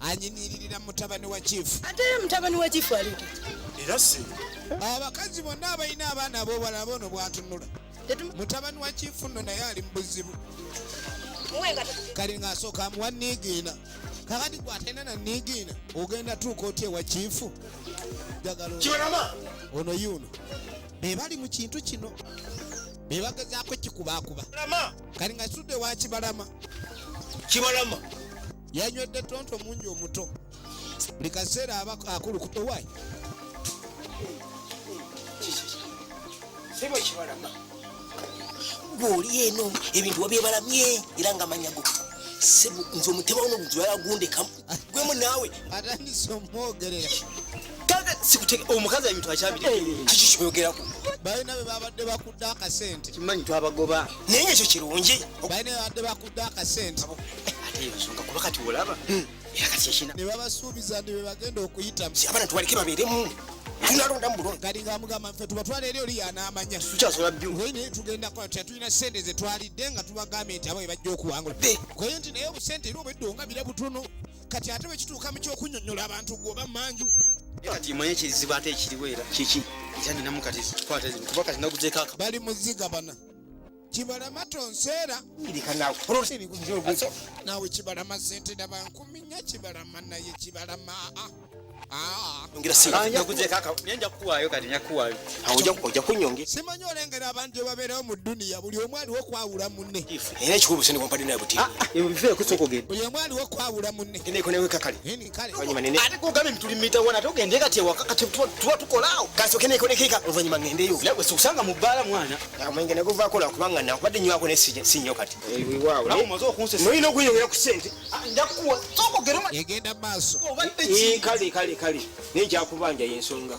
anyimiririra mutabani wa chief ate mutabani wa chief ali era si abakazi bonna abalina abaana abobala bono bwatunula mutabani wa chief no naye ali mubuzibu kali ngaasooka amuwa niigiina kakati gwatenda na niigiina ogenda tuuka otya ewa chief jagala ono yuno bebali mu kintu kino bebagezaako kikubaakuba kali nga situdde wa kibalama kibalama yanywedde tonto mungi omuto buli kaseera aba akulukuta owaayi sebo kibalama gwoli eno ebintu wabyebalamye era nga manyago sebo nze omutema uno muntu yalagundekamu ah. gwemu naawe atandise omwogerera sikuteke omukazi ebintu akyabiri eh, eh, eh. kiki kyoyogerako balina bebabadde bakudde akasente kimanyi twabagoba naye ekyo kirungi akasente ate eyo nsonga kuba kati olaba hmm. era kati ekina ne babasuubiza nti be bagenda okuyitamu si abana tubaleke babeeremu tunalonda mulonda kati nga mugamba nfe tubatwala eri oli yanaamanya tukyasobola byo naye tugenda kola tutya tulina sente ze twalidde nga tubagambye nti abo bebajja okuwangula kwaye nti naye obusente era obwedde ongabira butono kati ate bwekituuka mu kyokunyonyola abantu gwoba manju kati manye kizibu ate ekiriwo era kiki era ninamu kati kuba kati naguzeeko bali muziga bana kibalama tonseera nawe kibalama sente daba nkumi nya kibalama naye kibalama ah, ah. simanyi olengera abantu ebabeerawo mu duniya buli omu aliwo okwawula munne ah, buli omu aliwo okwawula munne oluvanyuma nene ate kugambye nti tuli mitawana ate ogende kati ewaka kati tuba tukolaawo kasooke nekolekeka oluvanyuma ngendeyo nawe sikusanga mu bbaala mwana amwenge neguvaako lwakubanga nakubadde nywako ne si nnyo kati nolina okunyongera ku sente ah, njakuwa sokogera egenda maaso kale kale kale naye nkyakubanja yensonga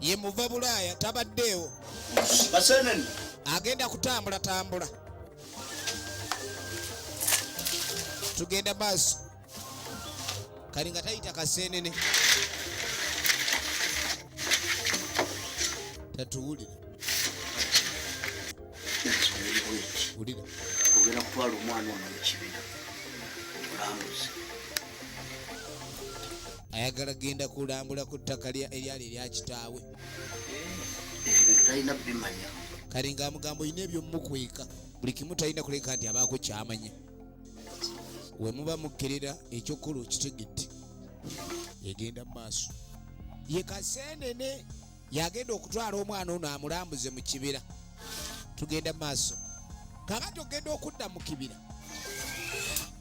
ye muva bulaaya tabaddeewo agenda kutambula tambula tugenda maaso kali nga tayita kaseenene tatuwulire wulira ogenda kutwala omwana ono mu kibina olambuzi ayagala genda kulambula ku ttaka eryali erya kitaawe talina bimanya kale nga amugambo olina ebyomukweka buli kimu talina kuleka nti abaako kyamanya wemuba mukkerera ekyokkola okitegedde egenda mu maaso ye kasenene yagenda okutwala omwana ono amulambuze mu kibira tugenda maaso kakati ogenda okudda mu kibira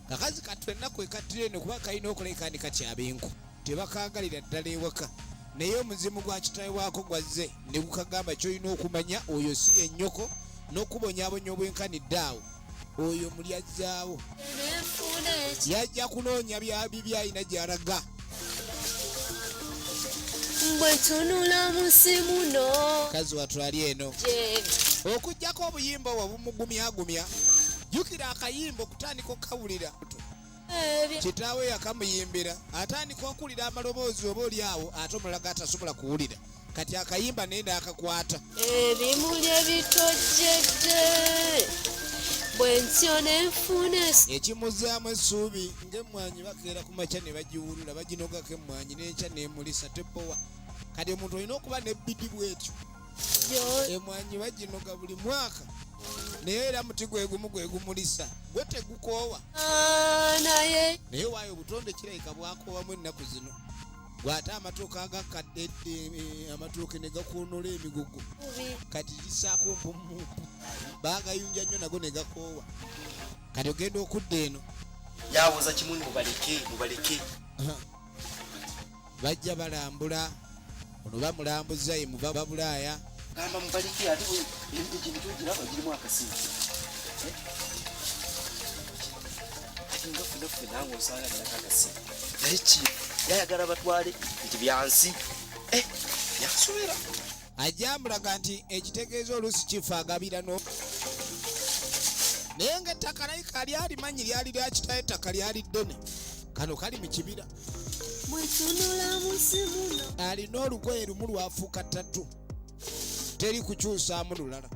kakazi kattu ennaku ekattira eno kuba kalina okuleka ni kakyabinku tebakangalira ddala ewaka naye omuzimu gwa kitawe waako gwazze ne gukagamba kyolina okumanya oyo si yennyoko n'okubonyabonya obwenkanidde awo oyo muli ajjaawo yajja kunoonya byabibi alina gyalaga bwetunula munsi muno kazi watwali eno okugyako obuyimba obwo bumugumyagumya jukira akayimba okutandika okukawulira kitaawe yakamuyimbira atandika okuwulira amaloboozi oba oli awo ate omulala gatasobola kuwulira kati akayimba naye naakakwata ebimuli ebitojjedde bwentyo nenfuna ekimuzaamu essuubi ngaemmwanyi bakeera ku makya ne bagiwulula baginogako emmwanyi n'enkya nemulisa tepowa kati omuntu olina okuba nebbidi bwetyo emwanyi baginoga buli mwaka naye era muti gwegumu gwegumulisa gwe tegukoowa ah, naye waayo obutonde kirabika bwakoowamu ennaku zino bw'ate amatuuka agakkadde eh, amatuuke ne gakuunola emigugu kati lisaako mpumu bagayunja nnyo nago ne gakoowa kati ogenda okudda eno yawoza kimu mubaleke mubaleke bajja balambula ono bamulambuza ye muva babulaaya gamba mubaliki ate emitujintu giraba girimu akasimu eh? ngafunaffe nange osanga nako akasimu naye ki yayagala batwale nti byansi eh, yansubira ajambulaga nti ekitegeeza oluusi kifa agabira no naye nga ettaka naye kalyalimanyi lyali lyakitayo ettaka lyali ddene kano kali mu kibira alina olugoye lumu lwafuuka ttatu teri kukyusaamu lulala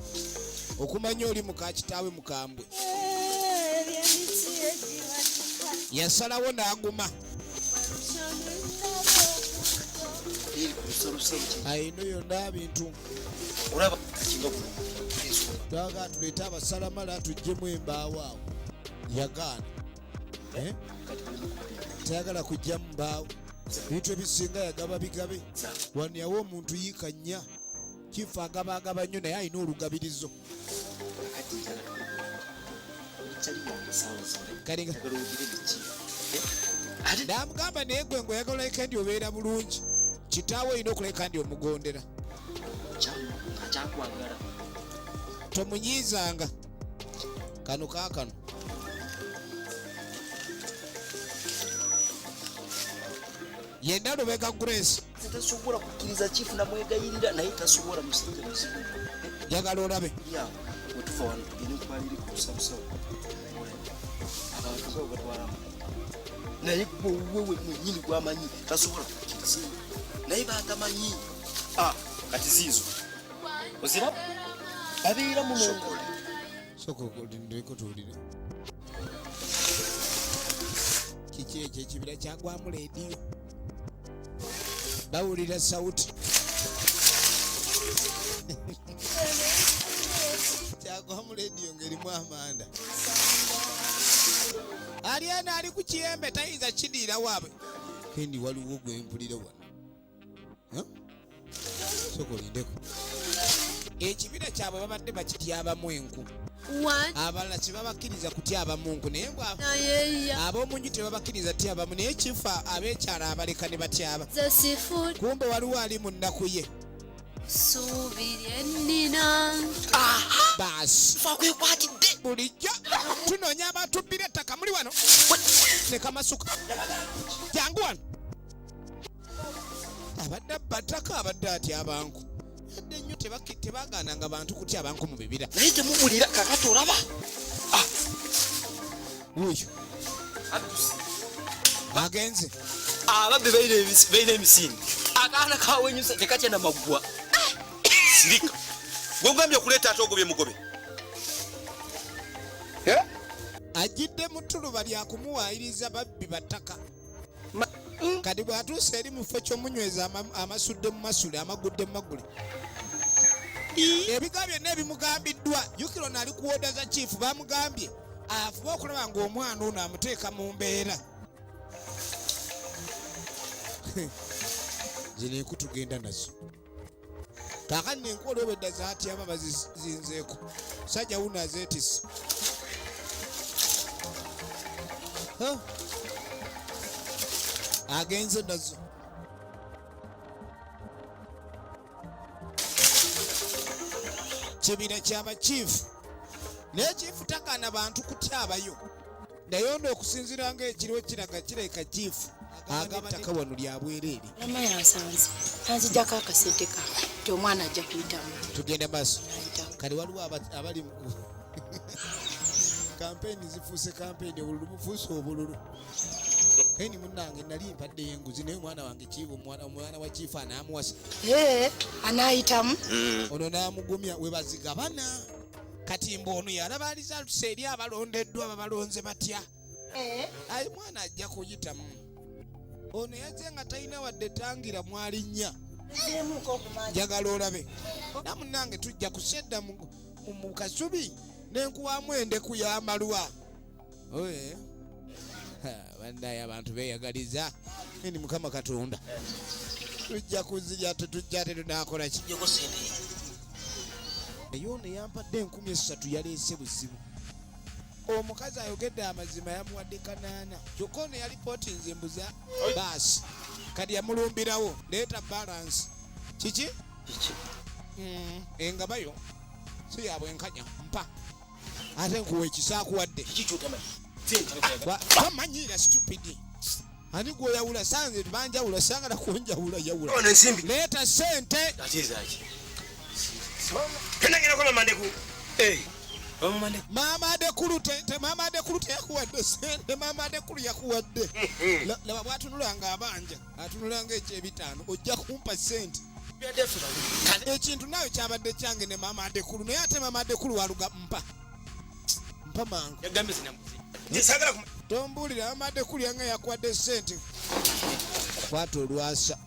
okumanya oli muka kitaawe mukambwe yasalawo n'aguma ayino yonna bintu twaga tuleete abasalamala tujjemu embaawo awo yagaana eh? tayagala kujja mubaawo ebintu ebisinga yagaba bigabe wano yawa omuntu yiika nnya kifa agaba agaba nnyo naye alina olugabirizo namugamba naye gwe ngaoyagala olabika ndi obeera bulungi kitaawe olina okulabika ndi omugondera tomunyiizanga kano kaakano yenda lubega grace tasobola kukkiriza chief namwegayirira naye tasobola musajja muzibu njagala olabe wetuva wano tugende kubaliri kusabusabu abantu batwalamu naye gwewewe mwenyini gwamanyi tasobola kukkiriza naye batamanyi ah, kati ziizo ozira babeera muno soka okulindeko tuwulire kiki ekyo ekibira kyagwamu leediyo bawulira sauti kyagwamu leediyo ngerimu amanda ali ena ali ku kiyembe tayinza kidiira waabwe kendi waliwo gwempulira wano soka olindeko ekibira kyabwe babadde bakityabamu enku abalala kyebabakkiriza kutyabamu nku naye ab'omunju tebabakkiriza tyabamu naye kifa abekyala abaleka ne batyaba kumbe waliwo ali mu nnaku ye bulijjo tunoonya abatubbira ettaka muli wano ne kamasuka jangu wano abadde abbatako abadde atya abantu yadde nnyo tebagaananga bantu kutya abantu mu bibira naye temubulira kakati olaba ah. wuyo agenze ababbe baina emisinde akaana kawenyusa tekatya namaggwa ah. sirika gwegambye okuleeta ate ogobye mugobe ajidde mu tuluba lya kumuwaayiriza babbi battaka kati bw'atuuse eri mu kifo ky'omunyweza amasudde mu masule amagudde mu magule ebiga byonna ebimugambiddwa jukira ono ali kuwoda za kiifu bamugambye afuba okulaba ng'omwana ono amuteeka mu mbeera zino enku tugenda nazo kakati nenkola obwedda zatyama bazizinzeeko sajja wuno azeetise agenze nazo kibira kyaba chief naye chief takana bantu kutyabayo naye ono okusinzira nga ekiriwo kiraga kirabika kiifu agaba ettaka wano lya bwereere mama yansanze anzijako akasente ka ti omwana ajja kuyitamu tugende maaso kati waliwo abali kampeyini zifuuse kampeyini obululu bufuuse obululu keni munange nali mpadde yenguzi naye omwana wange kiiba omwana wa kiifu anaamuwasa anaayitamu mm. ono naamugumya webazigabana kati mbu ono yalaba alizalusa eri abalondeddwa babalonze batya eh? ayi mwana ajja kuyitamu ono yaze nga talina wadde tangira mwalinnya njagala olabe namunange tujja kusedda mu kasubi nenkuwamu endeku y'amalwa oye bandaye abantu beyagaliza ini mukama katonda tujja kuzija tetujja tetunakola ki naye ono yampadde enkumi esatu yaleese buzibu omukazi ayogedde amazima yamuwadde kanaana kyokka ono yali poti nze mbuza baasi kati yamulumbirawo leeta balansi kiki hmm, engabayo si yabwenkanya mpa ate nkuwa ekisaakuwadde bamanyiira stupidi ani gwoyawula sanze banjawula sangala kunjawula yawula leeta sente maama adekulu maama adekulu teyakuwadde sente maama adekulu yakuwadde laba bwatunula nga abanja atunulanga ekyebitaano ojja kumpa sente ekintu nawe kyabadde kyange ne maama adekulu naye ate maama adekulu waluga mpa mpa mangu tombuulira maama adekulu yanga yakwadde sente kwata olwasa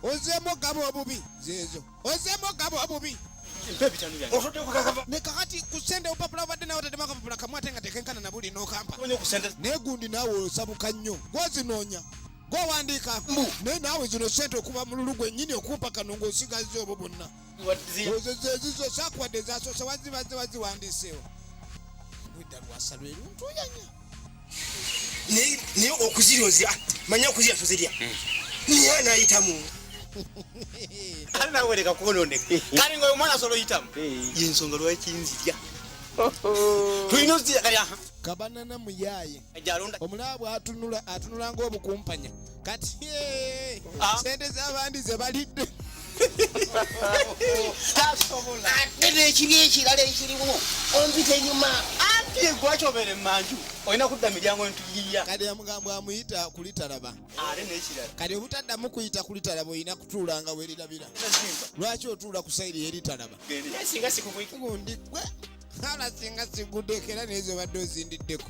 ozeemu ogaba obubi zeezo ozemu ogaba obubi nekakati kusente obupapula obadde nawe otademu akapapula kamu ate nga tekenkana nabuli nokampa negundi nawe osabuka nnyo gwozinoonya gwowandiika mbu naye naawe zino sente okuba mululu gwennyini okumpa kano ngaosigazza obwo bwonna ezizo sakuwadde zasoose wazibaze waziwandiiseewo ludda lwasa lweruntuuyanya naye okuzirya ozirya ah, manya okuzirya tozirya hmm. naye anayitamu anawereka kwononeka eh, eh. kale nga omwana asobola oyitamu eh. yensonga lwaki nzirya tulina ozirya kale kabanana muyaye omulaba bwatunula atunula ngaobukumpanya kati eh, ah. sente zabandi zebalidde ate nekiri ekirala ekirimu onzita enyuma anti egwacobere manju olina kudda miryango ntuyiya kati amugambo amuyita kulitalaba ate nekirala kati obutaddamu kuyita kulitalaba olina kutuulanga werirabira lwaki otuula ku sayiri yeritalaba singa sikugwe hala singa sigudeko era nezo badde ozindiddeko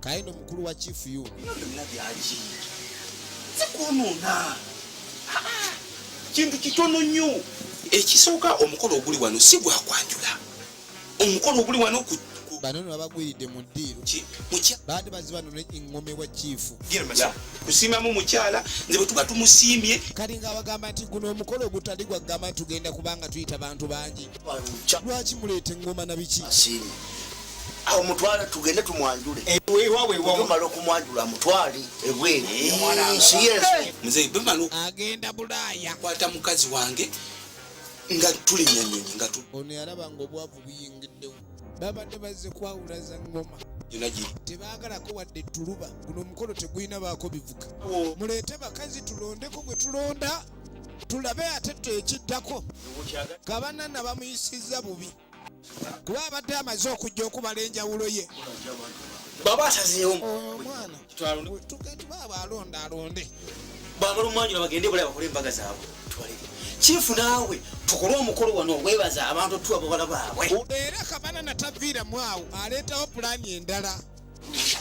kaye no mukulu wa chief yu zikwonona kintu kitono nnyo ekisooka omukolo oguli wano si gwakwanjula omukolo oguli wano ku bano no babagwiridde mu ddiiro baade baziba no engome wa chief kusiimamu mukyala nze bwe tuba tumusiimye kati nga abagamba nti guno omukolo ogutali gwagamba nti tugenda kubanga tuyita bantu bangi lwaki muleeta engoma na biki awo mutwale tugende tumwanjule ewewawewaumala eh, okumwanjula mutwale ebweagenda eh, bulaaya kwata mukazi wange nga tuli nyanyonyi nga ono yalaba nga obwavu buyingiddewo babadde bazze kwawula za ngoma tebagalako wadde tuluba guno omukolo tegulina baako bivuga oh. muleete bakazi tulondeko gwe tulonda tulabe ate tekiddako kabanana bamuyisizza bubi kuba abadde amaze okujja okubala enjawulo ye baba asazeewo omwana tugetubaaba alonda alonde bamala omwanjula bagende bala bakole embaga zaabwe tubaleke kifu naawe tukole omukolo wano ogwebaza abantu tuwa babala baabwe era kabana nataviiramu awo aleetawo pulaani endala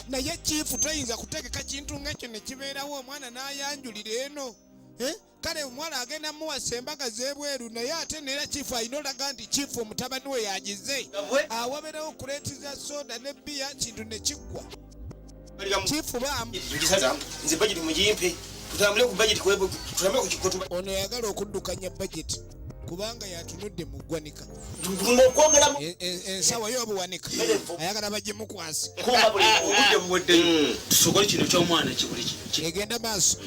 naye kifu toyinza kutegeka kintu ngaekyo nekibeerawo omwana nayanjulira eno eh? kale omuwala agenda muwasa embaga z'ebweru naye ate neera kifu alina olaga nti kifu mutabani we yagize awabeerawo kuleeti za soda ne bbiya kintu ne kiggwa kifu baamu ono yagala okuddukanya bajeti kubanga yatunudde mu ggwanika e, e, ensawa yo obuwanika ayagala bajje mukwasi tusokole kino kyomwana kibuli egenda maaso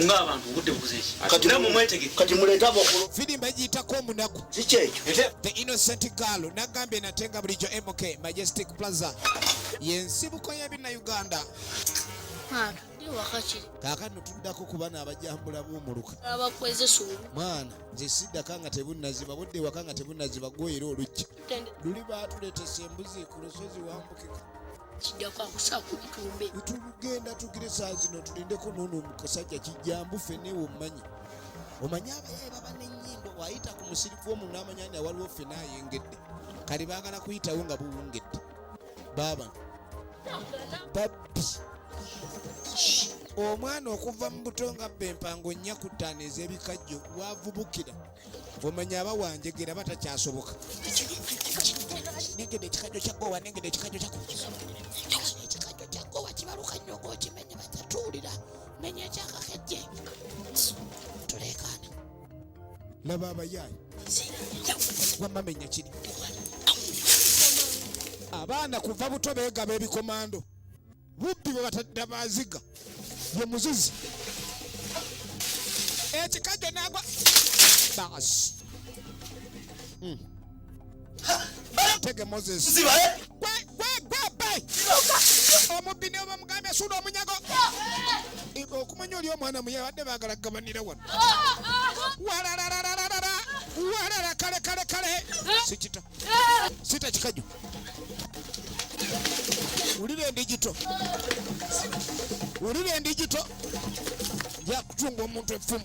ngaabantu obudde bukuzeekati muleeta bakulu fidi mbagiyitako omunaku kikyekyo the innocent girl nagambye natenga bulijjo mk majestic plaza yensibuko yebina uganda kaakano tuddako ku bana abajambula b'omuluka mwana nze siddaka nga tebunnaziba budde ewaka nga tebunnaziba gwoyera oluggi luli baatuleetesa embuzi ku lusozi wambukika kijjako akusaa ku bitumbe tulugenda tugire saa zino tulindeko noono omusajja kijjambu feneewe omumanyi omanyi abayaye baba nenyimbo wayita ku musirifu omu namanya ni awaliwo ffe nayengedde kali bagala kuyitawo nga buwungedde baaba babbi omwana okuva mu buto nga bba empango nnya ku ttaano ez'ebikajjo wavubukira omanya aba wanjegera aba takyasoboka nengede ekikajjo kya gowa nengede ekikajjo kya ekikajjo kya gowa kibaluka nnyo ng'okimenye batatuwulira menya ekyakakejje tuleekaana laba abayaayi wamamenya kiri abaana kuva buto beegaba ebikomando bubbi bwe batadda baziga ye muzizi ekikajjo nagwa baasi hmm. Tege Moses. Ziba eh? Gwe gwe gwe bay. Omubbi ne bamugambe suuda omunyago. Ibo okumanya oli omwana muye badde bagala gabanira wano. Walararararara. Walara kale kale kale. Sikita. Sita kikaju. Ulire ndigito. Ulire ndigito. Yakutunga omuntu efumu.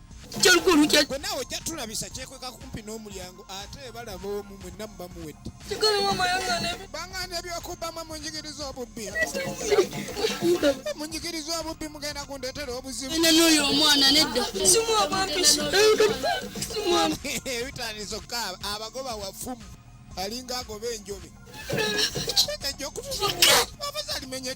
kyolukulu kye gwe nawe ojja tulabisa kyekweka kumpi n'omulyango ate balaba omu mwenna muba muwedde bangana ebyokubbamu munjigiriza obubbi munjigiriza obubbi mugenda kundetera obuzibunoyo omwana nedda ebitandisa okukaaba abagoba wafumu alinga agoba enjobe ekyo okutusa abazalimenye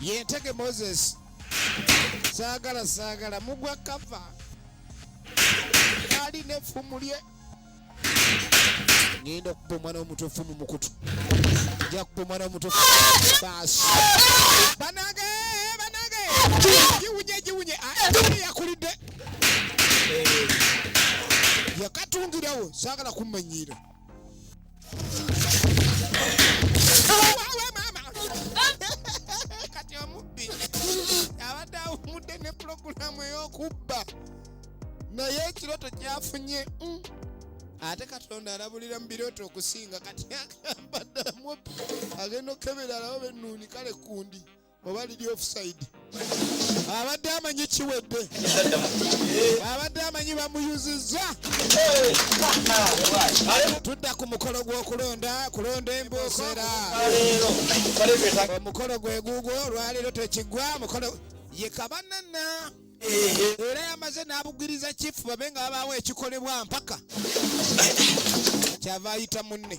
yentege moses saagala saagala mugwa kava ali nefumu lye ngenda okuba omwana omutufu mu mukutu nja kuba omwana omutufu baasi banage banage giwunye giwunye yakulidde yakatungirawo saagala kummanyiira kati omubbi abadde awumudde ne pulogulaamu ey'okubba naye ekirooto kyafunye mm. ate katonda alabulira mu birooto okusinga kati agamba ddala mubbi agenda okukebera alaba bennuuni kale kundi oba lidi offside abadde amanyi kiwedde abadde amanyi bamuyuzizza tudda ku mukolo gw'okulonda kulonda embuusera omukolo gweguugwo olwaleero tekiggwa mukolo ye kabanana era yamaze n'abugiriza kifu babe nga babaawo ekikolebwa mpaka kyava ayita munne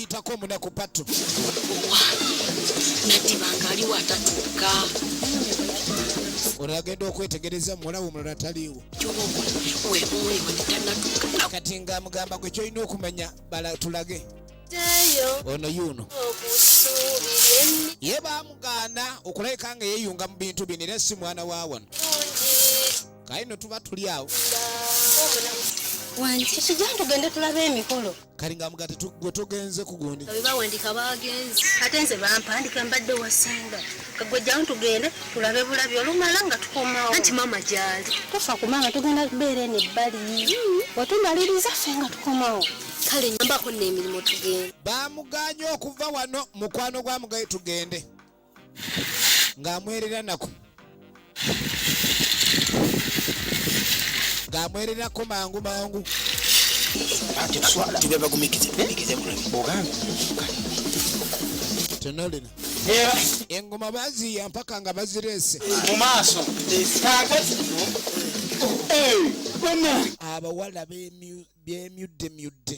yitako omunaku patu natibanga aliwo atatuuka olagenda okwetegereza muwalawo omulala taliiwo kati nga mugamba gwe kyolina okumanya balatulage ono yuuno ye bamugaana okulabika nga yeyunga mu bintu bino era si mwana wa wano kaye no tuba tuli awo wange kiki gyange tugende tulabe emikolo kali nga mugati gwe tugenze kugundi bawandika bagenzi ate nze bampandika mbadde wasinga kagwe jawo tugende tulabe bulabi olumala nga tukomawo anti mama gyali tofa kumanga tugenda kubeera eno ebbali wetumaliriza ffe nga tukomawo kale nyambako n'emirimu tugende bamuganye okuva wano mukwano gwa mugaye tugende ng'amwerera nako ng'amwererako mangu mangu tenolina engoma baziya mpaka nga bazireese mu maaso abawala bemyuddemyudde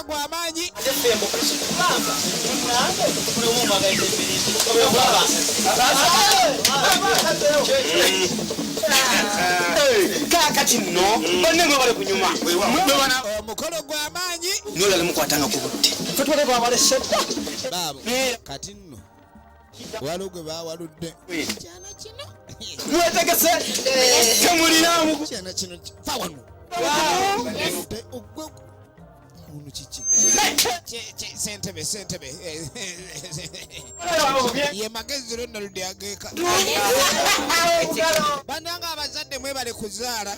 gwa maanyi kakati nno banne mwe bali kunyuma omukolo gwa maanyi nolala mukwatanga ku budde fetwale bwabaleseda baabo kati nno waliwo gwe bawaludde kyana kino mwetegese temulinamu kyana kino fa wano ogwe ono kiki sentebe sentebe ye magezi lonna ludi ageeka bananga abazadde mwebale kuzaala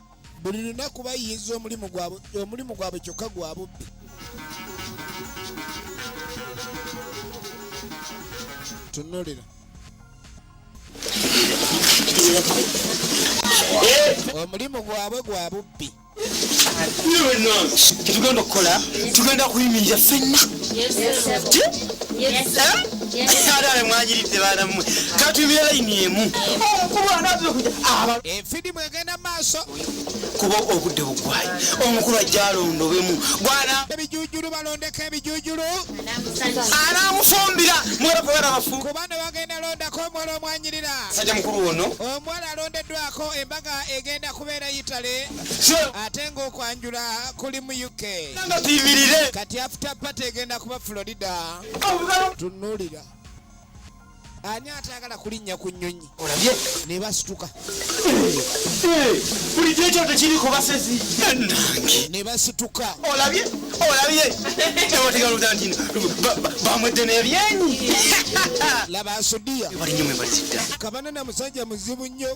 buli lunaku bayiyiza omulimu gwabwe omulimu gwabwe kyokka gwa bubbi tunulira omulimu gwabwe gwa bubbi tugenda okukola tugenda kuyimirira fenna ate ale mwanyiridde baana mmwe katuyimire layini emu Midimu egenda mu maaso kuba obudde bugwayi omukulu ajja alondobemu gwana ebijujulu balondeko ebijujulu anaamufumbira mwera kubera bafu kubano bagenda londako omuwala omwanyirira sajja mukulu wono omuwala alondeddwako embaga egenda kubeera yitale ate ng'okwanjula kuli mu uk nga tuyimirire kati afuta pate egenda kuba florida tunulira ani atayagala kulinnya ku nnyonyi olabye ne basituka bulijjo ekyo tekiri ku basezi ne basituka olabye olabye tewategalutantino bamwedde nebyenyi laba asudiya kabana na musajja muzibu nnyo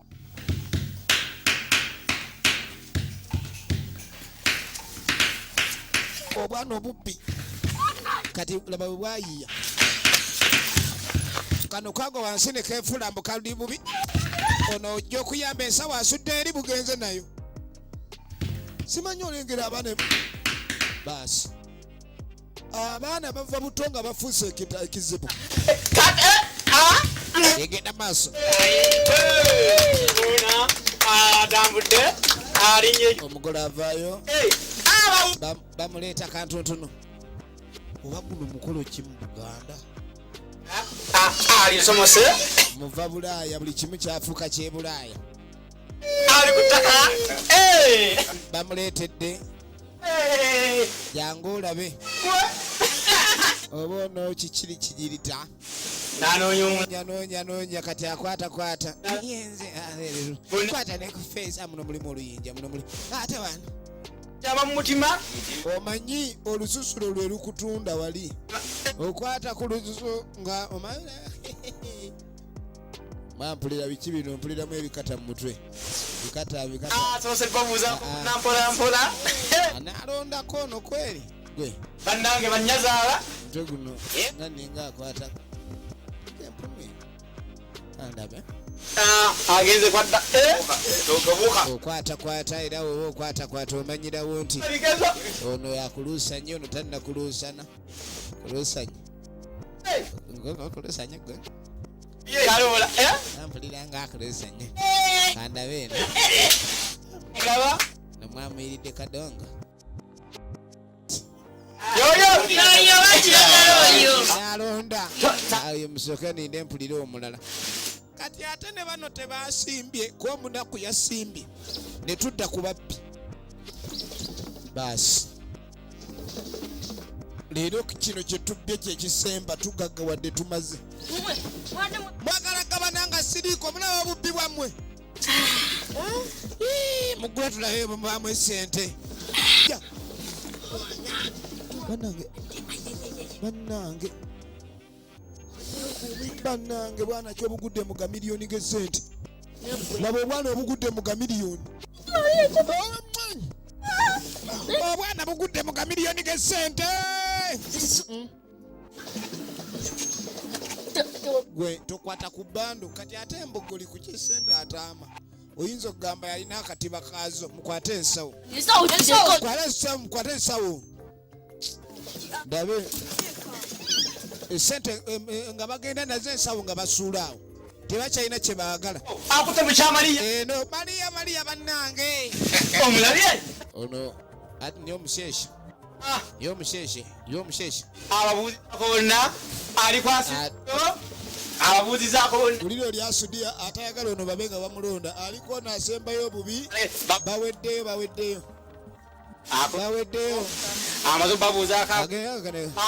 obwana obubbi kati laba bwe bwayiiya kano kago wansi ne keefula mbu kaludi bubi ono ojja okuyamba ensawo asudde eri bugenze nayo simanyi olengera abaana baasi abaana bava buto nga bafuuse ekizibu egenda maaso atambudde alinye omugole avaayo bamuleeta kantuntunu oba guno mukolo ki mu buganda alisomose muva bulaaya buli kimu kyafuuka kyebulaaya ali ku ttaka bamuleetedde jangu olabe oba ono kikiri kigirita nanonyanonyanoonya kati akwatakwata yenze kwata nekufeesa muno mulimu oluyinja muno muli ate wano kyaba mu mutima omanyi olususulo lwe lukutunda wali okwata ku lususu nga omanyi maa mpulira biki bino mpuliramu ebikata mu mutwe bikata bikata ah, soose babuuza ah. nampola mpola ah, nalondako ono kweri gwe bannange banyazaala mutwe guno eh? nga ninga akwata empumi andabe agenze kwadda eh? okwatakwata era woba okwatakwata omanyirawo nti ono yakuluusa nnyo ono tannakuluusana kulusanya kulusanya gwe kaloola eh? nampulira nga akulusanya kandabe eno ngaba nomwamuyiridde kadongo alonda ayo musooke ninde mpulira omulala kati ate ne bano tebasimbye kuba munaku yasimbye ne tudda ku babbi baasi leero kino kyetubbye kyekisemba tugagga wadde tumaze mwagala gabana nga siriiko mulaba bubbi bwammwe mugula tulabe bwemubaamu esente banange banange bannange bwana ki obugudde mu gamiliyoni gesente laba obwana obugudde mu gamiliyoni obwana bugudde mu gamiliyoni gesente gwe tokwata ku bando kati ate embogoli ku kyesente ataama oyinza okugamba yalina akatiba kaazo mukwate ensawo mukwate ensawo ndabe esente eh, eh, nga bagenda nazo ensawo nga basuulaawo tebakyalina kye baagala akute mukyamaliya eno eh, maliya maliya bannange omulabye ono ati niyo omusheshe ah. yo omusheshe yo omusheshe ababuuzizako bonna alikwasizo ababuuzizako bonna uliro lyasudiya atayagala ono babe nga bamulonda aliko nasembayo obubi baweddeyo baweddeyo akaweddeyo amaze babuuzaako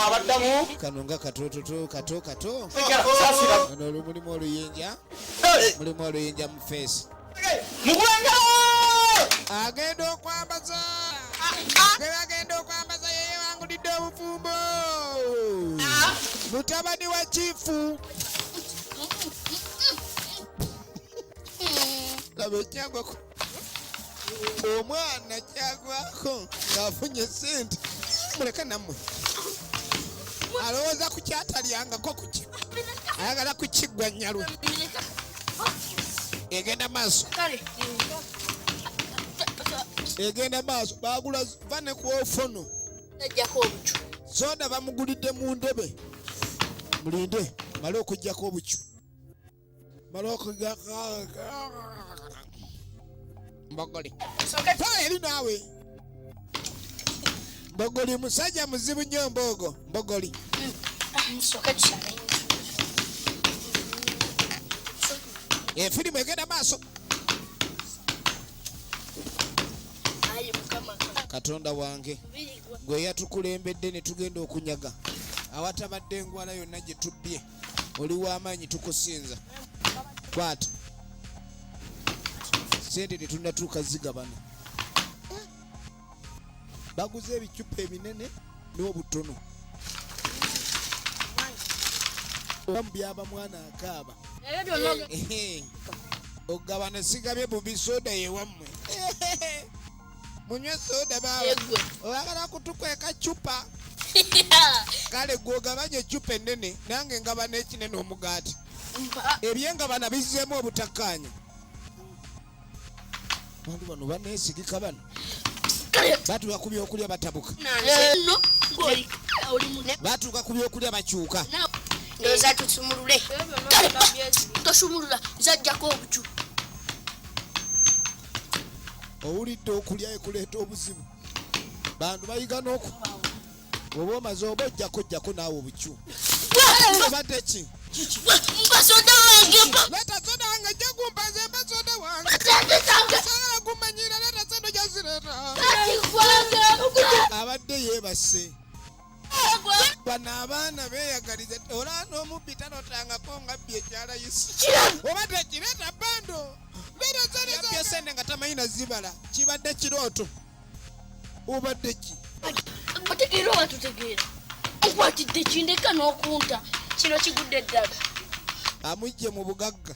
abaddamu kano nga katototo kato kato ono olumulimu oluyinja mulimu oluyinja mu feesi mugwanga agenda okwambaza agenda okwambaza yeyewangulidde obufumbo ah. mutabani wa kifu laba ekyagwako omwana kyagwako ng'afunye sente muleke nammwe alowooza ku kyatalyangako kuki ayagala kukiggwa nyalwe egenda maaso egenda maaso bagula va ne ku ofono soda bamugulidde mu ndebe mulinde male okujjako obucu Mbogoli. Eri naawe. Mbogoli musajja muzibu nnyo mbogo. Mbogoli. Efirimu eh, egenda maaso. Katonda wange gwe yatukulembedde ne tugenda okunyaga awatabadde engwala yonna gye tubbye. oli w'amaanyi tukusinza kwata sente tetunatuuka zigabana baguze ebicupa ebinene n'obutono oba mu byaba mwana akaaba ogabana sigabye bubisoda yewammwe munywe soda bawe oyagala kutukweka cupa kale gwogabanye ecupa enene nange ngaba nekinene omugaati ebyengabana bizzemu obutakkaanya bantu bano banesigika bano batuuka ku byokulya batabuka batuuka ku byokulya bakyuka ndoza tusumulule tosumulula zajjako obucu owulidde okulya ekuleeta obuzibu bantu bayiga noku oba omaze oba ojjako ojjako naawe obukyu obadde ki mbasoda wange leta soda wange jja kumpaza embasoda wange sobola kumanyira leta soda jazireta abadde yeebase bano abaana beyagaliza olaba n'omubbi talotangako nga bbi ekyalayisi oba tekireeta bando yabye sente nga tamanyi nazibala kibadde kirooto obadde ki otegeera oba tutegeera nkwatidde kindeka n'okunta kino kigudde eddala amujje mu bugagga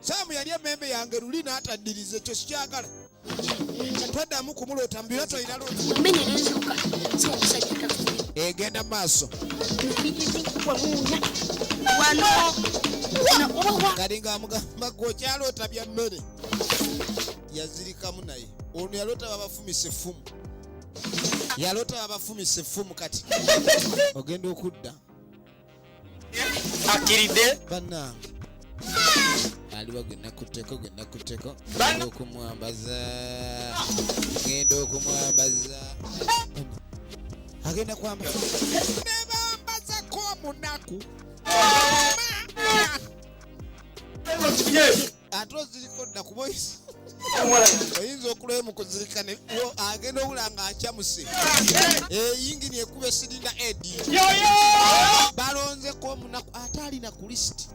saamu yali emmeembe yange luli n'ataddiriza ekyo sikyagala twaddamu kumuloota mubira tolina egenda mu maaso kalinga amugamba gwe okyaloota bya mmere yazirikamu naye ono yaloota babafumise effumu yaloota babafumise effumu kati ogenda okudda akkiridde bannange aliwa gwe nakutteko gwe nakutteko Bana- ngenda okumwambaza ngenda okumwambaza agenda kwambaza nebambazako omunaku ate oziriko dda kuba oyinza okulaba mu kuzirika ne agenda obula nga akyamuse eyingini eh, ekuba esiringa edi balonzeko omunaku ate alina ku lisiti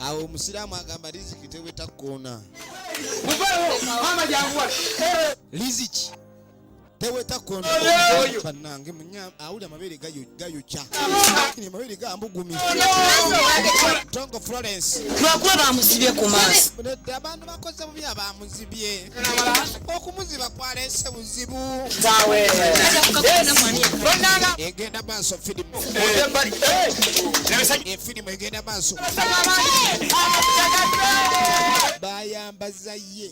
awo omusiraamu agamba riziki teweta koona riziki teweta kondo banange munya awulira amabere gayokya kini amabere gambugumi tongo florence lwakuba bamuzibye ku maaso abantu bakoze bubi abamuzibye okumuziba kwalese buzibu egenda maaso firimu efirimu egenda maaso bayambaza ye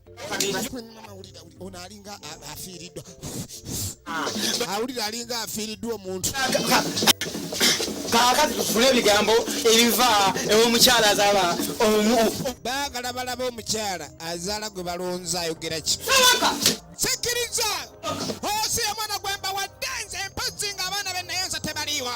ono alinga afiiriddwa awulira alinga afiiriddwa omuntu kakati tufune ebigambo ebiva ewomukyala azala omu baagala balaba omukyala azaala gwe balonza ayogera ki sikiriza osi omwana gwembawadde nze mpozi nga abaana benaye nze tebaliiwa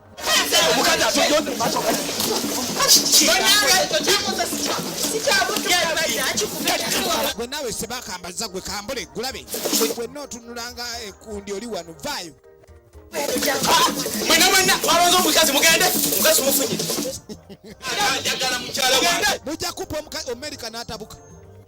gwe naawe sebakambaza gwe kambule gulabe gwenna otunulanga ekundi eh, oli wano vaayo mwena mwena twalonze omukazi mugende mukazi mufunye mujja kupa omukazi omerika n'atabuka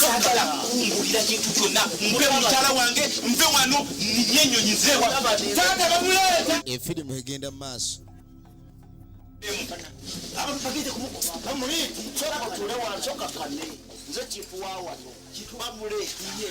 saagala kungulira kintu kyonna ngule mukyala wange nve wano ninye enyonyi zewa taata bamuleeta efirimu egenda mu maaso nze kifuwa wano bamuleetiye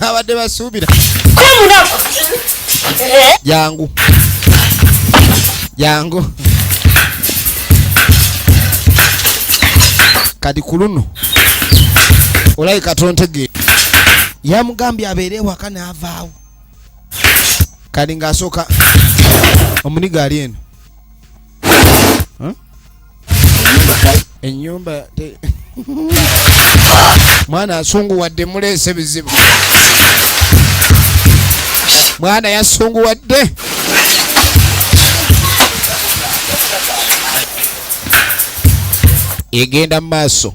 abadde basuubira jangu jangu kati ku luno olabika tontegeera yamugambye abeere ewaka n'avaawo kati ng'asooka omuniga ali eno enyumba mwana asunguwadde muleese bizibu mwana yasunguwadde egenda mu maaso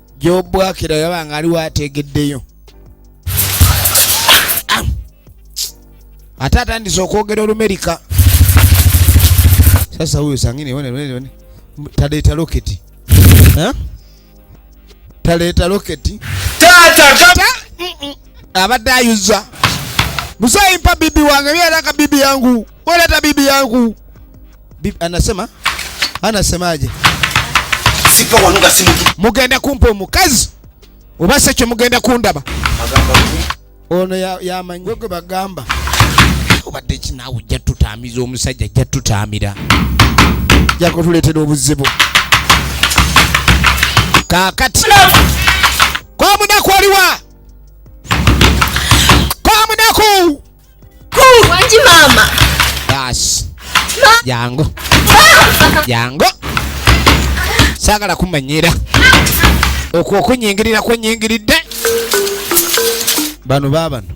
gyobwakira yaba nga aliwo ategeddeyo ate atandise okwogera olumerika sasa huyo sangine one one one taleta rocket ha taleta rocket tata kata abadde ayuza musayi mpa bibi wange byera ka bibi yangu Bora hata bibi yangu bibi, anasema anasemaje? mugenda kumpa omukazi oba se kyo mugenda kundaba ono yamanyi gwe bagamba obadde kinaawe ojja tutaamiza omusajja ajja tutaamira ajja kutuleetera obuzibu kaakati kwa munaku aliwa kwa munaku Wangi mama. Basi. Jangu. Jangu. Sagala kumanyira. Okwo okunyingirira kwenyingiridde. Bano babano.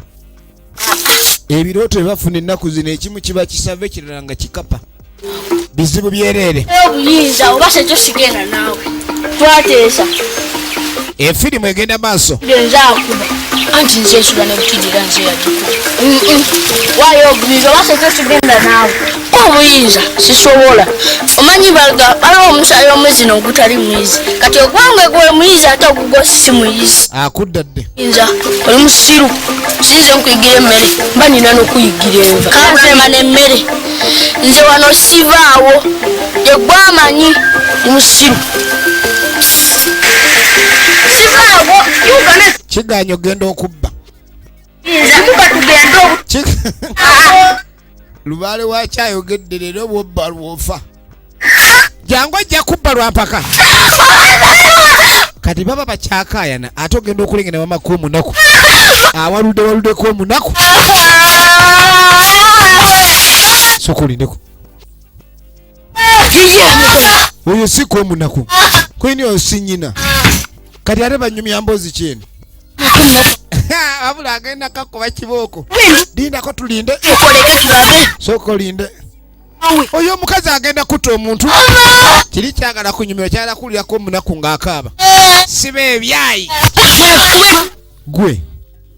Ebirooto bye bafuna ennaku zino ekimu kiba kisava ekirala nga kikapa. bizibu byereere obuyinza oba kyekyo kigenda naawe twateesa efirimu eh, egenda maaso genza akuba anti nze ensula nebutidira nze yagikuba wayo obuyinza oba kyekyo kigenda naawe obuyinza sisobola omanyi baga baliwo omusaayi omwezi nogutali mwizi kati ogwange gwe muyizi ate ogugwo si muyizi akudda dde nja oli musiru sinze nkuyigira emmere mba nina nokuyigira enva kanzema nemmere nze wano sivaawo yegwe amanyi ndi musiru sivaawo ugana kiganya ogenda okubba Kika tugende. lubaale waki ayogedde leero bwobba lwofa jangu ajja kubba lwampaka kati baba bakyakayana ate ogenda okulengera wamaka omunaku awaludde waludeko omunaku soka olindeko oyo si kwe munaku kwini oyo si nyina kati ate banyumya mbozi kyeno abula agenda kakuba kibooko lindako tulinde sooka olinde oyo omukazi agenda kutta omuntu kiri kyagala kunyumira kyala kuwulirako omunaku ng'akaaba siba ebyayi gwe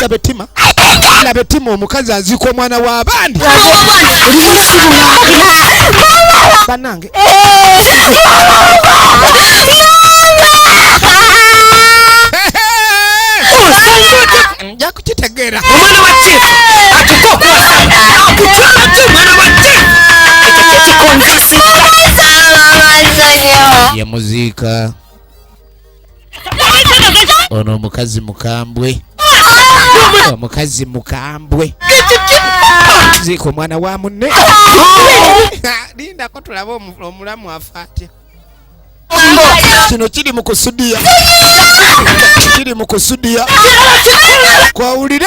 laba ettima laba ettima omukazi aziika omwana w'abandi banange nja kukitegeera omwana wa chief atuka okuwasa akutwala ki omwana wa chief ekyo kyekikonvisidde yemuziika ono omukazi mukambwe omukazi mukambwe ziika omwana wa munne lindako tulabe omulamu afa atya kino kiri mu kusudiya kiri mu kusudiya kwawulire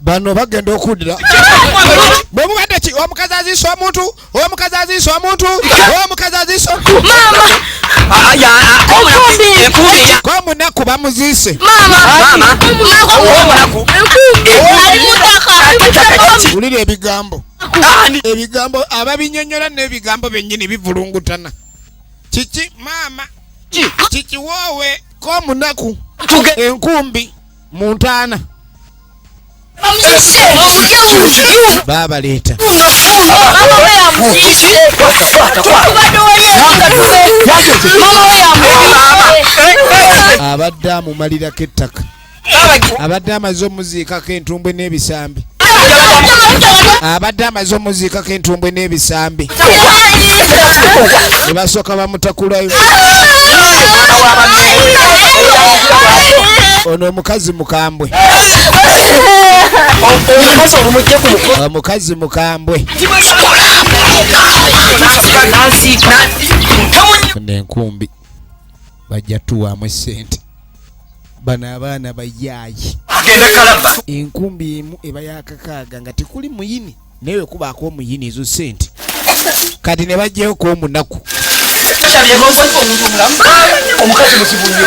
bano bagenda okudira bwe mubadde ki omukazi aziisa omuntu omukazi aziisa omuntu omukazi aziisa komunaku bamuziise wulira ebigambo ebigambo ababinyonyola n'ebigambo bennyini bivulungutana kiki maama kikiwoowe komunaku enkumbi mu ntaana babaleeta abadde amumalirako ettaka abadde amaze omuziikako entumbwe n'ebisambi n'ebisambi abadde amaze omuziikako entumbwe n'ebisambi ne basooka bamutakulayo ono omukazi mukambwe omukazi mukambwe nenkumbi bajja tuwaamu esente bano abaana bayaayi agenda kalaba enkumbi emu eba yakakaaga nga tekuli muyini naye wekubaako omuyini ezo sente kati ne bajjayo ku omunaku omukazi mukibuyo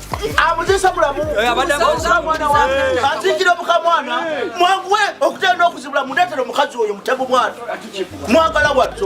amuzisa mulamu azingira omukamwana mwanguwe okutenda okuzibula muleetera omukazi oyo mutego mwana mwagala watto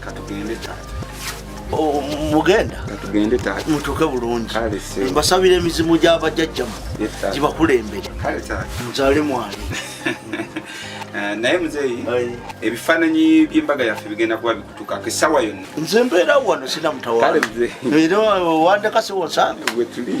katugende taata oh, mugenda katugende taata mutuuke bulungi mbasabira emizimu gy'abajajjamu gibakulembere nzale mwali eh, naye muzeeyi ebifaananyi by'embaga yaffe bigenda kuba bikutukako essaawa yonna nze mbeera wano sinamutawaera wandekasiwosanga wetuli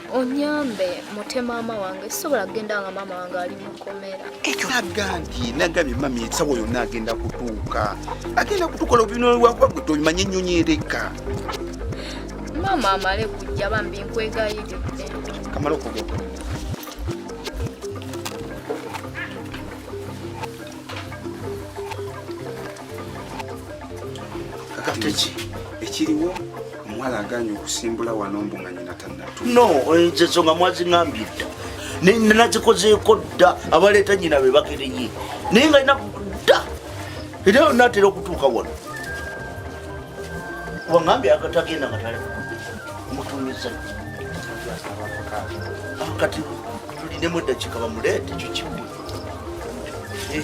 onyambe mute maama wange sisobola kugenda nga maama wange ali mukomera ekyo agambye nagambye mami esawa yonna agenda kutuuka agenda kutukola obinolwakuba gwe tomanya ennyonyi ereka maama amale kujja bambi nkwegayiridde kamala okugenda kakati ekiriwo omuwala aganye okusimbula wano mbu nga nyina tanatu no enzezo nga mwaziŋambye dda nenazikozeeko dda abaleeta nyina be bakereye naye nga ina dda era natera okutuuka wano wangambye agatagenda nga tale mutumiza ah, kati tulinemu eddakiika bamuleete ekyo kimu eh.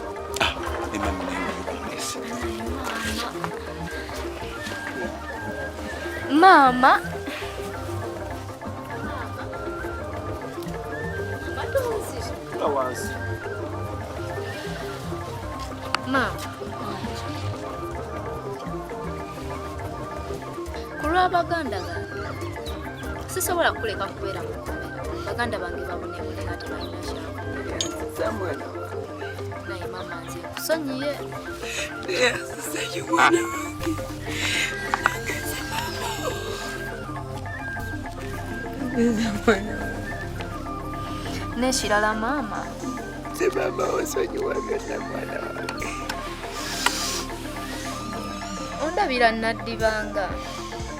Mama Mama ku lwa baganda bange sisobola kuleka kubeera mu baganda bange babonebulekati Neshirala mama, simama osonyiwa byonna mwana wange. Ondabira nnadibanga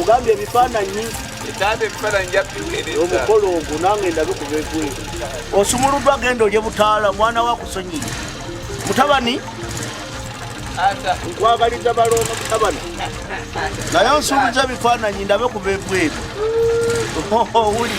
ogambye ebifaananyi omukolo ogwo nange ndabe kubegwe osumuluddwa genda olye butaala mwana wakusonyini mutabani nkwagaliza balooma mutabani naye onsuubiza ebifaananyi ndabe kubegweebyo owuli